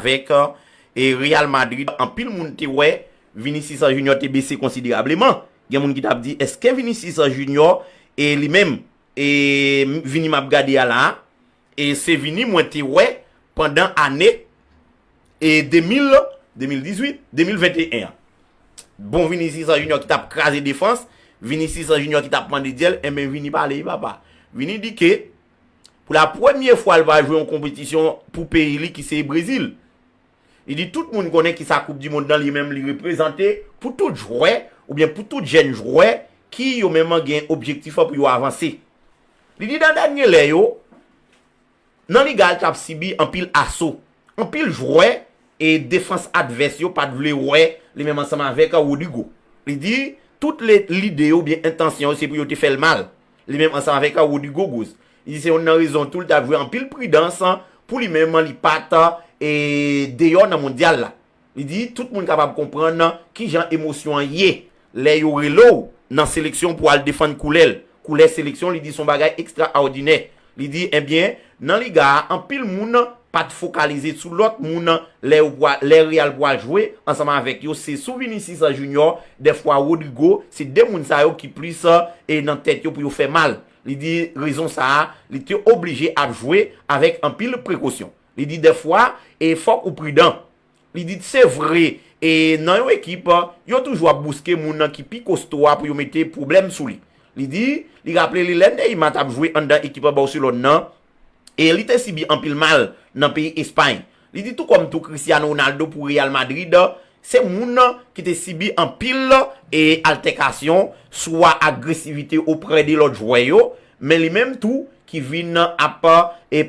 Avèk Real Madrid anpil moun te wè Vinicius Junior te bese konsiderableman. Gen moun ki t ap di eske Vinicius Junior e li menm e Vini m ap gade a la a e se Vini mwen te wè pandan ane e 2000, 2018, 2021 an. Bon Vinicius Junior ki t ap kraze defans, Vinicius Junior ki t ap mande dyèl, enben Vini pale wi papa. Vini di ke. Pou la premye fwa l va jwe yon konpetisyon pou peyi li ki se Brezil. Li di tout moun konnen ki sa koup di mond nan li menm li reprezante pou tout jwè oubyen pou tout jèn jwè ki yo menm gen objektif an pou yo avanse. Li di nan dènye lè yo nan liga a li t ap sibi anpil aso. Anpil jwè e defans advès yo pat vle wè li menm ansanm avèk Rodrygo. Li di tout lide yo oubyen entansyon yo se pou yo te fè l mal. Li menm ansanm avèk Rudy Gougouz. Li di se yonn nan rezon tou li ta dwe anpil pridans pou li menm li pa ta deyò nan mondyal la. Li di tout moun kapab konprann ki jan emosyon an ye lè yo rele w nan seleksyon pou al defann koulè l. Koulè seleksyon li di son bagay ekstraòdinè Li di, Ebyen, nan liga a, anpil moun pa t fokalize sou lòt moun lè yo pwa, lè Real pwal jwe ansanm avèk yo, se sou Vinicius Junior, dèfwa Rodrygo, se 2 moun sa yo ki plis e nan tèt yo pou yo fè mal. Li di, rezon sa a, li te oblije ap jwe avèk anpil prekosyon. Li di, dèfwa, e fòk ou pridan. Li di, Se vre, e nan yon ekip, yo toujou ap bouske moun ki pi kosto a pou yo mete pwoblèm sou li. Li di, li raple li lè Neymar t ap jwe anndan ekip Barcelone nan, e li te sibi anpil mal nan peyi Espay. Li di, Tou kòm tou Cristiano Ronaldo pou Real Madrid, se moun ki te sibi anpil altèkasyon, swa agresivite oprè de lòt jwè yo, Men li menm tou ki vin ap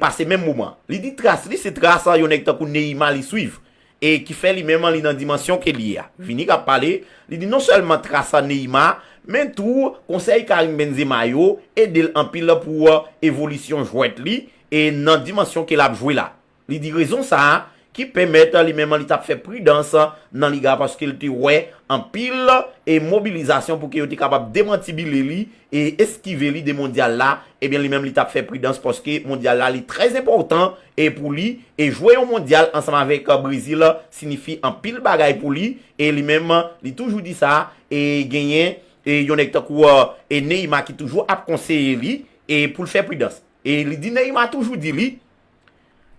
pase menm moman. Li di tras li se tras yon nèg tankou Neyima li swiv e ki fè li menm li nan dimansyon ke li ye a. Vini kap pale, li di non sèlman tras Neyima, men tou konsèy Karim Benzema yo ede l anpil pou evolisyon jwèt li e nan dimansyon ke lap jwe la. Li di rezon sa a ki pèmèt li menm li t ap fè pridans nan Liga paske l te wè anpil mobilizasyon pou ke yo te kapab demantibile li e eskive li de Mondyal la, ebyen li menm li t ap fè pridans paske Mondyal la li trè enpòtan pou li e jwe yon Mondyal ansanm avèk Brezil sinifi anpil bagay pou li e li menm li toujou di sa e genyen yon nèg tankou Neyma ki toujou ap konseye li pou l fè pridans e li di Neyma toujou di li.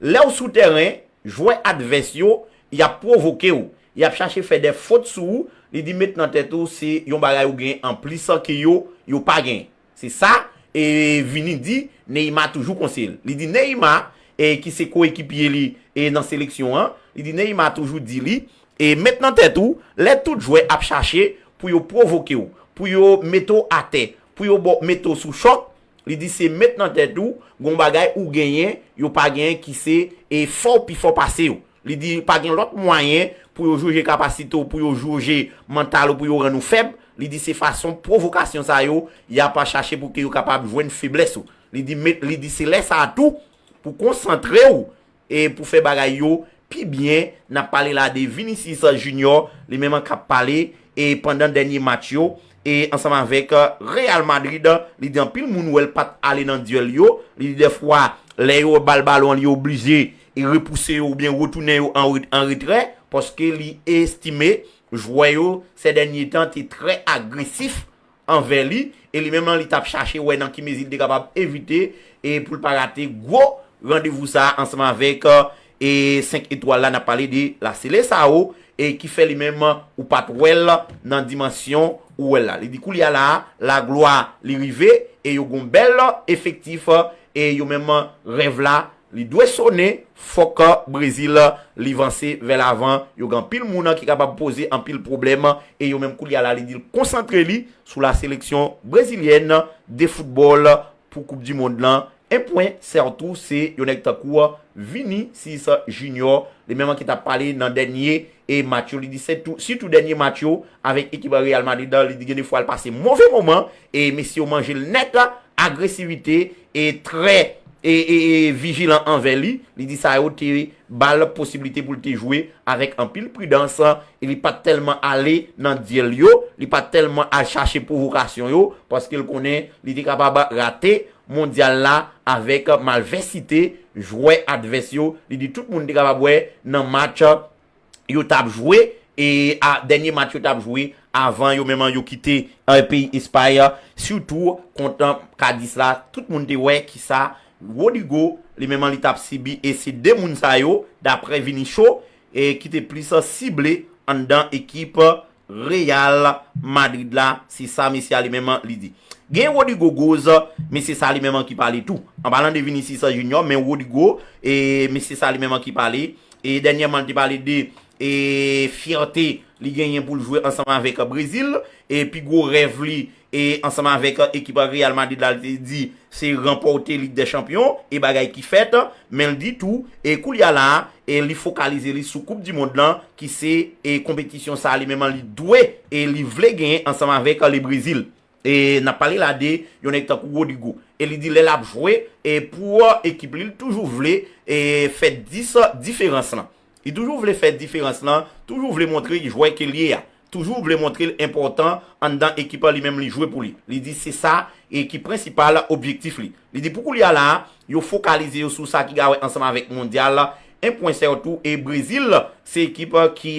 Lèw sou tèren, jwè advès yo, yap pwovokew, yap chache fè dè fot sou ou, li di met nan tèt ou se yon bagay ou gen anplis ke yo, yo pa gen. Se sa e Vini di Neymar toujou konseyel. Li di Neymar e ki se koekipye li e nan seleksyon an, li di Neymar toujou di li e met nan tèt ou lè tout jwè ap chache pou yo pwovokew, pou yo metew atè, pou yo baw, metew sou chòk, Li di se met nan tèt ou gon bagay ou genyen yo pa genyen ki se e fò ou pi fò pase yo. Li di pa gen lòt mwayen pou yo joje kapasite ou pou yo joje mantal ou pou yo rann ou fèb. Li di se fason pwovokasyon sa yo y ap chache pou ke yo kapab jwenn feblès ou. Li di met li di se lè sa a tou pou konsantre ou E pou fè bagay yo pi byen nap pale la de Vinicius Junior li menm kap pale e pandan dènye match yo e ansanm avèk Real Madrid li di anpil moun wèl pat ale nan duel yo li di dèfwa lè yo bal balon li oblije repouse yo oubyen retounen yo an retrè paske li estime jwè yo sè dènye tan te trè agresif anvè li, e li menm lan li tap chache wè nan ki mezi li te kapab evite e pou l pa rate gwo randevou sa a ansanm avèk e 5 etwal la, n ap pale de la Seleçao e ki fè li menm ou pat wè l nan dimansyon ou wè l la. Li di koulye a la a, laglwa li rive e yo gon bèl efektif e yo menm rèv la Li dwe sone fò kan Brezil li vanse vè lavan, yo gen anpil moun ki kapab poze anpil pwoblèm e yo menm koulye a la li di l konsantre li sou la seleksyon brezilyèn de foutbòl pou koup di mond lan. En pwen sètou se yon nèg tankou Vinicius Junior li menm ki t ap pale nan dènye match yo li di sètou sitou dènye match yo avèk ekip Real Madrid li di gen de fwa l pase move moman e mesye yo manje l nèt agresivite e trè e vijilan anvè li, li di sa yo te ba l posibilite pou l te jwe avèk anpil pridans e li pa t tèlman ale nan dyèl yo, li pa t tèlman al chache pwovokasyon yo paske l konnen li te kapab rate Mondyal la avèk malvèsite jwè advès yo, li di tout moun te kapab wè nan match yo tap jwe e a dènye match yo tap jwe avan yo menm an yo kite peyi Espay an sitou kont Cadiz la tout moun te wè kisa Rodrygo li menm an li tap sibi e se 2 moun sa yo daprè Vinicio e ki te plis sible anndan ekip Real Madrid la, se sa mesye a li menm li di. Gen Rodrygo Goes, men se sa li menm ki pale tou. An palan de Vinicius Junior, men Rodrygo, men se sa li menm ki pale. E dènyèman li te pale de fyète li genyen pou l jwe ansanm avèk Brezil. E pi gwo rèv li E ansanm avèk ekip Real Madrid la li te di se ranpòte Lig dè Chanpyon e bagay ki fèt, men li di tou e koulye a la e li fokalize li sou koup di mond lan ki se e konpetisyon sa li menm li dwe e li vle genyen ansanm avèk le Brezil. E nap pale la de yon nèg tankou Rodrygo e li di lè lap jwe e pou ekip li li toujou vle e fè 10 diferans lan. Li toujou vle fè diferans lan, toujou vle montre jwè ke l ye a, toujou vle montre l enpòtan anndan ekip an li menm li jwe pou li. Li di se sa e ki prensipal objektif li. Li di pou koulya la a, yo fokalize yo sou sa ki gawe ansanm avèk mondyal, 1 pwen sètou e Brezil se ekip ki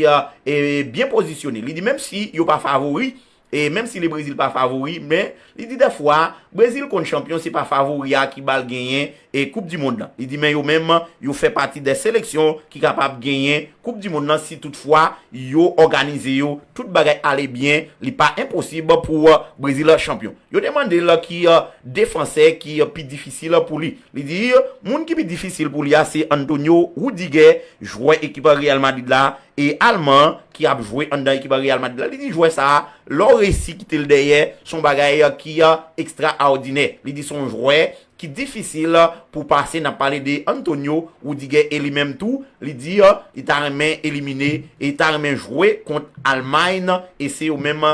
byen pozisyone. Li di menm si yo pa favori, E menm si le Brezil pa favori men li di dè fwa Brezil konn chanpyon se pa favori a ki bal genyen e koup di mond lan. Li di men yo menm yo fè pati dè seleksyon ki kapab genyen koup di mond lan si tout fwa yo òganize yo tout bagay ale byen li pa enposib pou Brezil chanpyon. Yo te mande l ki defansè ki pi difisil pou li. Li di, moun ki pi difisil pou li a se Antonio Rudiger, jwè ekip Real Madrid la, e Alman an ki ap jwe anndan ekip Real Madrid la. Li di jwè sa a, lè w resi kite l dèyè, se yon bagay ki ekstraòdinè. Li di se yon jwè ki difisil pou pase, n ap pale de Antonio Rudiger e li menm tou, li di li ta renmen elimine, li ta renmen jwe kont Almay e se yo menm,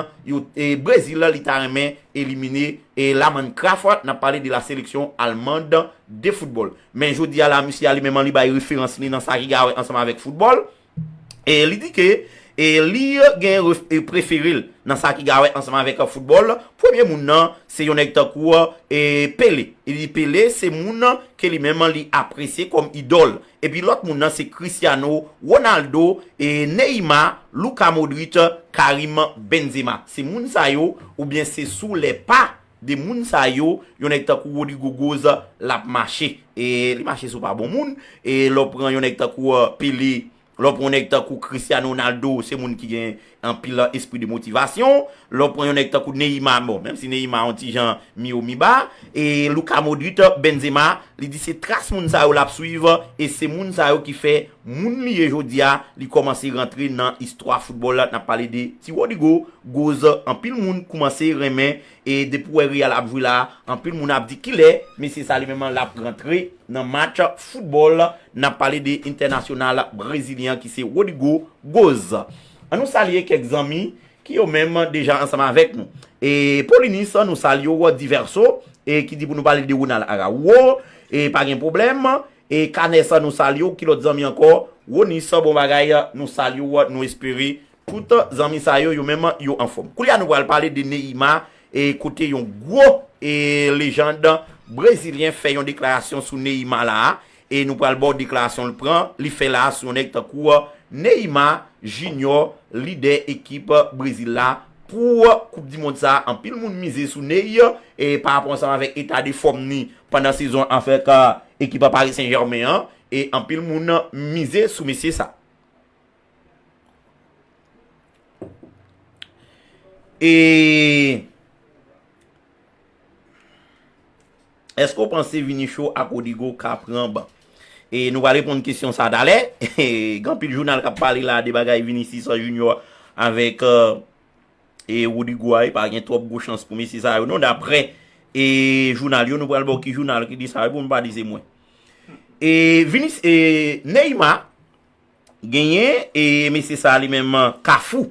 Brezil li ta renmen elimine. E la man Crafoart nap pale de la seleksyon almand de football. Men jodi a la misye a li menm an li bay referans li nan sa ki gawe ansanm avek football. E li di ke e li gen e preferel nan sa ki gawe ansanm avek football. Premye moun nan se yon neg tankou e Pele. Li di Pele se moun ke li menm li apresye kom idol. Epi lòt moun nan se Cristiano Ronaldo, Neymar, Luka Modric, Karim Benzema. Se moun sa yo oubyen se sou lè pa de moun sa yo yon nèg tankou Rodrygo Goes l ap mache. Li mache sou pa bon moun. Lè w pran yon nèg tankou Pelé, lè w pran yon nèg tankou Cristiano Ronaldo se moun ki gen Anpil lan espri de motivasyon, lè w pran yon nèg tankou Neymar, bon, menm si Neymar yon ti jan mi wo mi ba, e Luka Modric, Benzema, li di se tras moun sa yo l ap swiv, e se moun sa yo ki fè moun li ye jodi a, li kòmanse rantre nan istwa foutbòl, n ap pale de ti Rodrygo, Goes, anpil moun koumanse renmen E depi w wè Real ap jwe la a, anpil moun ap di kilè mesye sa li menm an lap rantre nan match foutbòl, nap pale de entènasyonal brezilyen an ki se Rodrygo Goes. An nou salye kèk zanmi ki yo menm deja ansanm avèk nou. E Paulinus nou salye w, Diverso e ki di pou nou pale de Ronald Araujo e pa gen pwoblèm e Canes nou salye w, ki lòt zanmi ankò, Ronus bon bagay nou salye w, nou espere Poutan zanmi sa yo, yo menm yo anfòm. Koulye a nou pral pale de Neymar e kote yon gwo e lejand brezilyen fè yon deklarasyon sou Neymar la a e nou pral ba w deklarasyon l pran, li fè la a sou yon nèg tankou Neymar Junior lidè ekip Brezil la pou koup di mond sa a. Anpil moun mize sou Ney e pa rapò ansanm avèk eta de fòm ni pandan sezon an avèk ekip Paris Saint Germain an e anpil moun mize sou mesye sa. Eee Eske ou panse Vinicio ak Rodrygo ka pran ban? E nou pral reponn kesyon sa talè. Gen anpil jounal k ap pale la de bagay Vinicius Junior avèk Rodrygo a. E pa gen twòp gwo chans pou mesye sa yo non daprè jounal yo. Nou pral ba w ki jounal ki di sa pou nou pa di se mwen. E Neymar. Genyen e mesye sa li menm kafou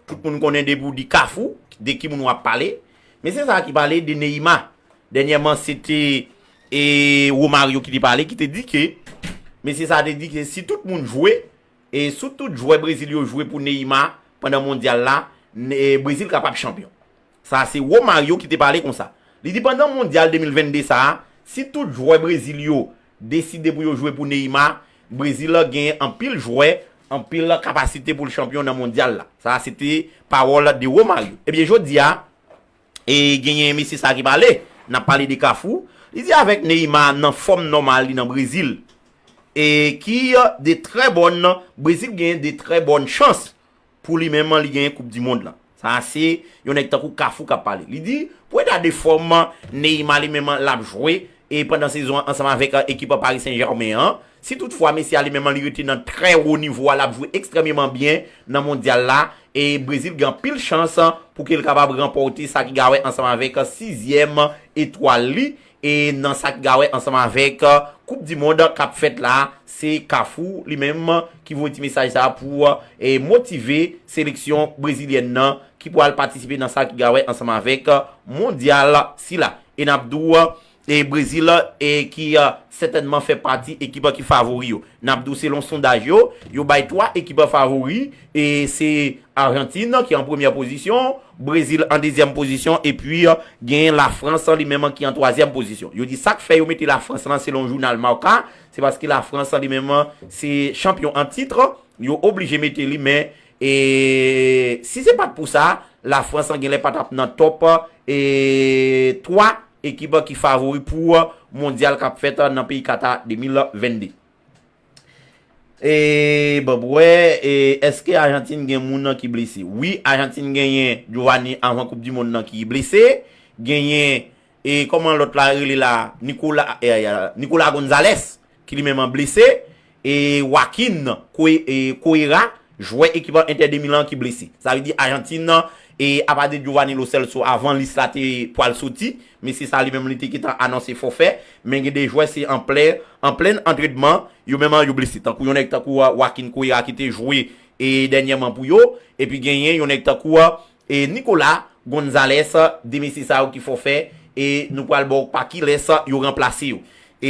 tout moun konnen depi ou di kafou de ki moun wap pale mesye sa ki pale de Neima dènyèman se te e Romario ki te pale ki te di ke mesye sa te di ke si tout moun jwe e sou tout jwè Brezil yo jwe pou Neima pandan mondyal la Brezil kapab chanpyon Sa a se Romário ki te pale konsa. Li di pandan Mondyal 2022 sa a, si tout jwè Brezil yo deside pou yo jwe pou Neymar, Brezil genyen anpil jwè, anpil kapasite pou l chanpyon nan Mondyal la. Sa a se te pawòl de Romário. Ebyen jodi a, e genyen mesye sa a ki pale, n ap pale de Cafu, li di avèk Neymar nan fòm nòmal li nan Brezil, e ki de trè bòn, Brezil genyen de trè bòn chans Pou li menm, li genyen koup di mond lan. Sa a se yon nèg tankou Kafou k ap pale. Li di, pou eta de fòm Neyma li menm l ap jwe e pandan sezon an ansanm avèk ekip Pari Sen Jèmen an, si tout fwa mesye a li menm li rete nan trè wo nivo a l ap jwe ekstrèmeman byen nan mondyal la e Brezil gen anpil chans pou ke l kapab ranpòte sa ki gawè ansanm avèk sizyèm etwal li E nan sa ki gawe ansanm avèk koup di mond kap fèt la se kafou li menm ki voye ti mesaj sa pou motive seleksyon brezilyèn nan ki pwal patisipe nan sa ki gawe ansanm avèk mondyal sila. E nap di w e brezil e ki sètènman fè pati ekip ki favori yo. Nap di w selon sondaj yo, yo bay 3 ekip favori E se Argentine ki an premyè pozisyon, Brezil an dezyèm pozisyon epi gen Lafrans li menm ki an twazyèm pozisyon. Yo di sa k fè yo mete Lafrans lan selon jounal Marca, se paske Lafrans li menm se chanpyon an tit, yo oblije mete li men si se pa t pou sa, Lafrans gen lè pa t ap nan tòp twa ekip ki favori pou mondyal k ap fèt nan peyi Kata 2022. Eeeee Bob wè eske Argentine gen moun nan ki blese wi Argentine genyen Giovanni avan koup di mond nan ki blese genyen e kòman lòt la rele la Nicola Nicola Gonzalez ki li menm an blese e Joaquin Correa Jwè ekip Inter de Milan ki blese. Sa vle di Ajantin nan, e apa de Giovani Lo Celso avan lis la te pwal soti, mesye sa li menm li te gentan anonse fòfè, men gen de jwè se an plè, an plenn antrenman, yo menm yo blese tankou yon nèg tankou Joaquin Cuera ki te jwe e dènyèman pou yo, epi genyen yon nèg tankou e Nicolas Gonzalez, de mesye sa yo ki fòfè e nou pwal ba w pa kilès yo ranplase yo.